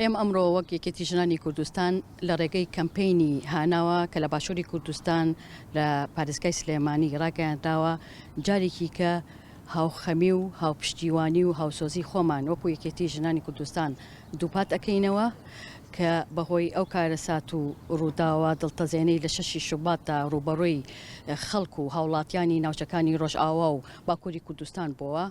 ئێمە ئەمڕۆ وەک یەکێتی ژنانی کوردستان لە ڕێگەی کەمپینی هاناوە کە لە باشووری کوردستان لە پارێزگای سلێمانی ڕاگەیاندراوە جارێکی کە هاوخەمی و هاوپشتیوانی و هاوسۆزی خۆمان وەکو یەکێتی ژنانی کوردستان دووپات ئەکەینەوە کە بەهۆی ئەو کارەسات و ڕووداوە دڵتەزێنەی لە شەشی شوباتدا ڕووبەڕووی خەڵک و هاوڵاتیانی ناوچەکانی ڕۆژئاوا و باکوری کوردستان بۆوە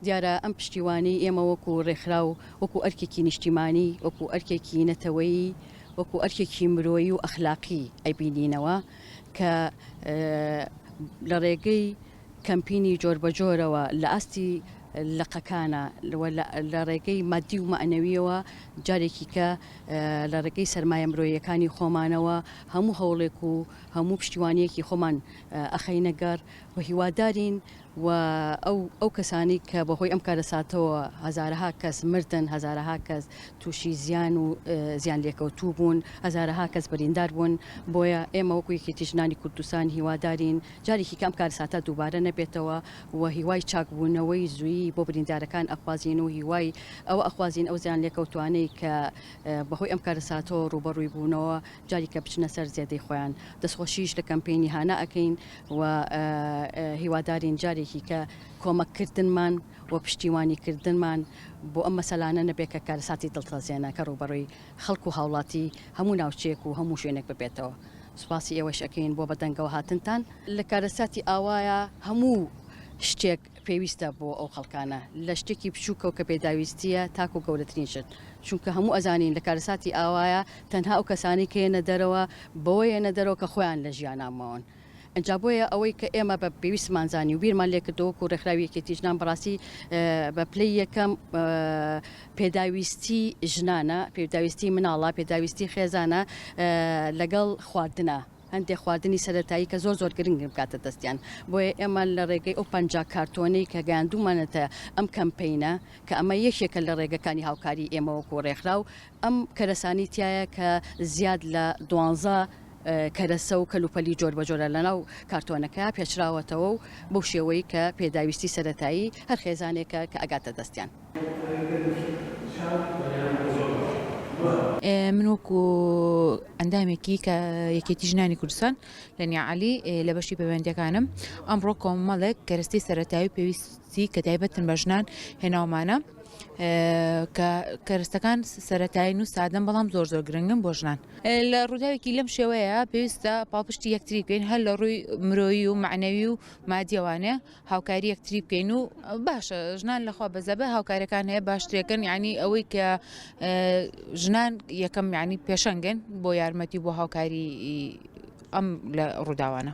دیارە ئەم پشتیوانی ئێمە وەکو ڕێکخراو وەکو ئەرکێکی نیشتیمانی وەکو ئەرکێکی نەتەوەیی وەکو ئەرکێکی مرۆیی و ئەخلاقی ئەبینینەوە کە لە ڕێگەی کەمپینی جۆربەجۆرەوە لە ئاستی لقەکانا و لە ڕێگەی مادی و مەعنەویەوە جارێکیکە لە ڕێگەی سەرمایە مرۆیەکانی خۆمانەوە هەموو هەوڵێک و هەموو پشتیوانیەکی خۆمان ئەخەینەگەڕ و هیوادارین و ئەو ئەو کەسانی کە بەهۆی ئەم کارەساتەوە هەزارەها کەس مردن هەزارەها کەس تووشی زیان و زیان لێکەوتوو بوون هەزارەها کەس بریندار بوون بۆیە ئێمە وەکو یەکێتی ژنانی کوردستان هیوادارین جارێکی کە ئەم کارەساتە دووبارە نەبێتەوە و هیوای چاکبوونەوەی زوویی بۆ بریندارەکان ئەخوازین و هیوای ئەوە ئەخوازین ئەو زیانلێکەوتووانەی کە بەهۆی ئەم کارەساتەوە ڕووبەڕووی بوونەوە جاریکە بچنە سەر زێدەی خۆیان دەستخۆشیش لە کەمپەینی هانا ئەکەین و هیوادارین جارێکی کە کۆمەککردنمان و پشتیوانیکردنمان بۆ ئەم مەسەلانە نەبێت کە کارەساتی دڵتەزێنە کە ڕووبەڕووی خەڵک و هاوڵاتی هەموو ناوچەیەک و هەموو شوێنێک ببێتەوە. سوپاسی ئێوەش ئەکەین بۆ بەدەنگەوە هاتنتان. لە کارەساتی ئاوایە هەموو شتێک پێویستە بۆ ئەو خەڵکانە، لە شتێکی بچووکەوە کە پێداویستییە تاکوو گەورەترین شت، چونکە هەموو ئەزانین لە کارەساتی ئاوایە تەنها ئەو کەسانەی کە یەنە دەرەوە بەوە یەنە دەرەوە کە خۆیان لە ژیانا ماون. ئینجا بۆیە ئەوەی کە ئێمە بە پێویستمان زانی و بیرمان لێکردەوە وەکو ڕێکخراوی یەکێتی ژنان بەڕاستی بە پلەی یەکەم پێداویستی ژنانە پێداویستی مناڵە پێداویستی خێزانە لەگەڵ خواردنە هەندێک خواردنی سەتایی کە زۆر زۆر گرنگ بکاتە دەستیان بۆیە ئێمە لە ڕێگەی ئەو پنج کارتۆنەی کە گەیاندومانەتە ئەم کەمپینە کە ئەمە یەکێکە لە ڕێگەکانی هاوکاری ئێمەوەکو ڕێکخراو ئەم کەرەسانەی تیایە کە زیاد لە دوانزە کەرەسە و کەلوپەلی جۆربەجۆرە لەناو کارتۆنەکە پێچراوەتەوە و بەو شێوەی کە پێداویستی سەرەتایی هەر خێزانێکە کە ئەگاتە دەستیان. من وەکو ئەندامێکی کە یەکێتی ژنانی کوردستان لە نیعەلی لە بەشی پەیوەندیەکانم ئەمڕۆ کۆمەڵێک کەرەستەی سەرەتایی و پێویست سی کە تایبەتن بە ژنان هێناومانە کە کەرستەکان سەتاین و سادەم بەڵام زۆر زۆر گرنگم بۆ ژنان لە ڕووداوێکی لەم شێوەیە پێویستە پاڵپشتی یەکتری بکەین هەر لە ڕووی مرۆیی و معنەوی و مادیەوانێ هاوکاری یەکتری بکەین و باشە ژنان لەخوا بەزەبە هاوکارەکان هەیە باشترێکن ینی ئەوەی کە ژنان یەکەم ینی پێشەنگن بۆ یارمەتی بۆ هاوکاری ئەم لە ڕووداوانە.